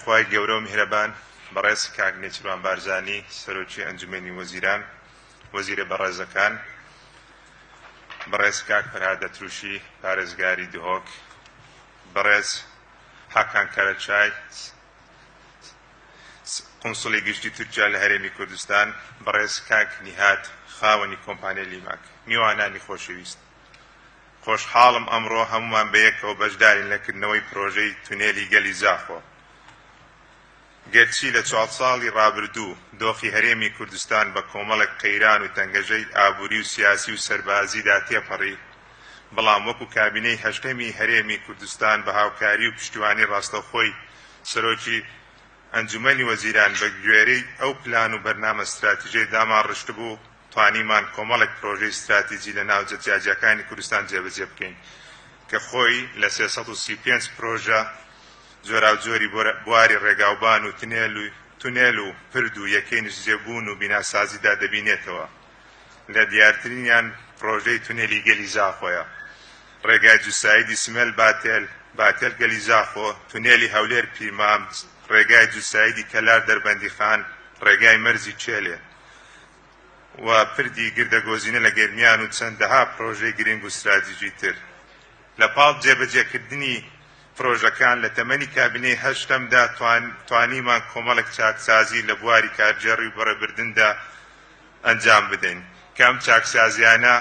خوای گەورەو میهرەبان بەڕێز کاک نێچیروان بارزانی سەرۆکی ئەنجومەنی وەزیران وەزیرە بەڕێزەکان بەڕێز کاک پەرهاد دەتروشی پارێزگاری دهۆک بەڕێز حاکان کەرەچای قونسڵی گشتی تورکیا لە هەرێمی کوردستان بەڕێز کاک نیهاد خاوەنی کۆمپانیای لیماک میوانانی خۆشەویست خۆشحاڵم ئەمڕۆ هەموومان بەیەکەوە بەشدارین لە کردنەوەی پرۆژەی تونێلی گەلی زاخۆ. گەرچی لە چوار ساڵی رابردوو دۆخی هەرێمی کوردستان بە کۆمەڵێک قەیران و تەنگەژەی ئابووری و سیاسی و سەربازیدا تێپەڕی، بەڵام وەکو کابینەی هەشتەمی هەرێمی کوردستان بە هاوکاری و پشتیوانی راستەوخۆی سەرۆکی ئەنجومەنی وەزیران بە گوێرەی ئەو پلان و بەرنامە ستراتیژەی داماڕشتبوو، توانیمان کۆمەڵێک پرۆژەی ستراتیجی لە ناوجە جیاجیاکانی کوردستان جێبەجێ بکەین کە خۆی لە سێ سەد و سی و پێنج پرۆژە جۆراوجۆری بواری ڕێگاوبان و تنێل و تونێل و پرد و یەکەی نیشتجێبوون و بیناسازیدا دەبینێتەوە لە دیارترینیان پرۆژەی تونێلی گەلی زاخۆیە ڕێگای جوسایدی سمێل باتێل باتێل گەلی زاخۆ تونێلی هەولێر پیرمام ڕێگای جوسایدی کەلار دەربەندیخان ڕێگای مەرزی چێلێ و پردی گردەگۆزینە لە گەرمیان و چەندەها پڕۆژەی گرنگ و ستراتیژی تر. لە پاڵ جێبەجێکردنی پڕۆژەکان، لە تەمەنی کابینەی هەشتەمدا توانیمان کۆمەڵێک چاکسازی لە بواری کارگێڕی و بەڕێبردندا ئەنجام بدەین، کە ئەم چاکسازییانە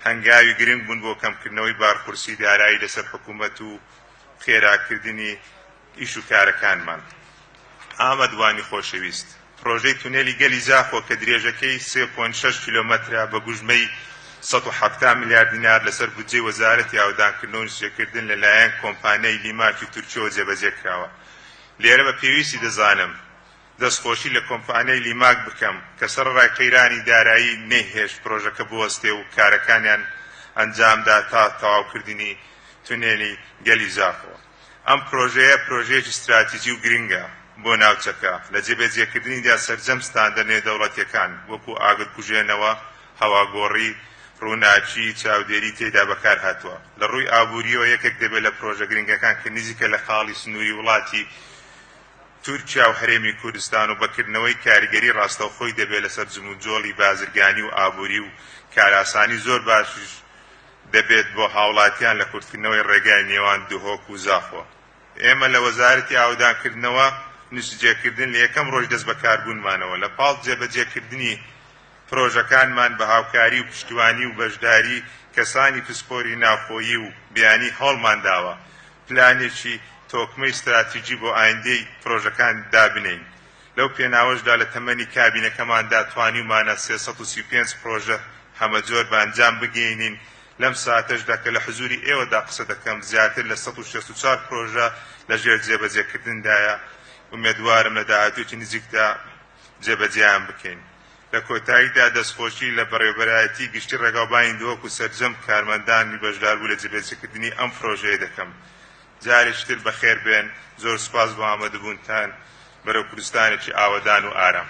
هەنگاوی گرنگ بوون بۆ کەمکردنەوەی بارقورسی دارایی لەسەر حکوومەت و خێراکردنی ئیش و کارەکانمان. ئامەد وانی خۆشەویست، پڕۆژەی تونێلی گەلی زاخۆ کە درێژەکەی سێ پۆینت شەش کیلۆمەترە بە گوژمەی سەد و حەفتا ملیار دینار لەسەر بودجەی وەزارەتی ئاوەدانکردن و نشێکردن لەلایەن کۆمپانیای لیماکی تورکیەوە جێبەجێکراوە. لێرە بە پێویستی دەزانم دەستخۆشی لە کۆمپانیای لیماک بکەم کە سەرەڕای قەیرانی دارایی نەیهێشت پڕۆژەکە بوەستێ و کارەکانیان ئەنجامدا تا تەواوکردنی تونێلی گەلی زاخۆ. ئەم پرۆژەیە پرۆژەیەکی ستراتیجی و گرنگە بۆ ناوچەکە، لە جێبەجێکردنیدا سەرجەم ستاندەر نێودەوڵەتییەکان وەکوو ئاگرکوژێنەوە، هەواگۆڕی، ڕووناکی، چاودێری تێیدا بەکارهاتووە. لە ڕووی ئابوورییەوە یەکێک دەبێت لە پرۆژە گرنگەکان کە نزیکە لە خاڵی سنووری وڵاتی تورکیا و هەرێمی کوردستان و بەکردنەوەی کاریگەری ڕاستەوخۆی دەبێت لەسەر جموجۆڵی بازرگانی و ئابووری و کارئاسانی زۆر باشیش دەبێت بۆ هاوڵاتیان لە کورتکردنەوەی ڕێگای نێوان دهۆک و زاخۆ. ئێمە لە وەزارەتی ئاوەدانکردنەوە نسجێکردن لە یەکەم ڕۆژی دەست بەکاربوونمانەوە لە پاڵ جێبەجێکردنی پرۆژەکانمان بە هاوکاری و پشتیوانی و بەشداری کەسانی پسپۆری ناوخۆیی و بیانی هەوڵمان داوە پلانێکی تۆکمەی ستراتیجی بۆ ئایندەی پرۆژەکان دابنێین. لەو پێناوەشدا لە تەمەنی کابینەکەماندا توانیومانە سێ سەد و سی و پێنج پڕۆژە هەمەجۆر بە ئەنجام بگەینین، لەم ساتەشدا کە لە حزووری ئێوەدا قسە دەکەم زیاتر لە سەد و شەست و چوار پڕۆژە لەژێر جێبەجێکردندایە، ئومێدوارم لە داهاتوویەکی نزیکدا جێبەجێیان بکەین. لە کۆتاییدا دەستخۆشی لە بەڕێوەبەرایەتیی گشتیی ڕێگاوبانی دهۆک و سەرجەم کارمەندانی بەشداربوو لە جێبەجێکردنی ئەم پڕۆژەیە دەکەم. جارێکی تر بەخێر بێن زۆر سوپاس بۆ ئامەدبوونتان بەرەو کوردستانێکی ئاوەدان و ئارام.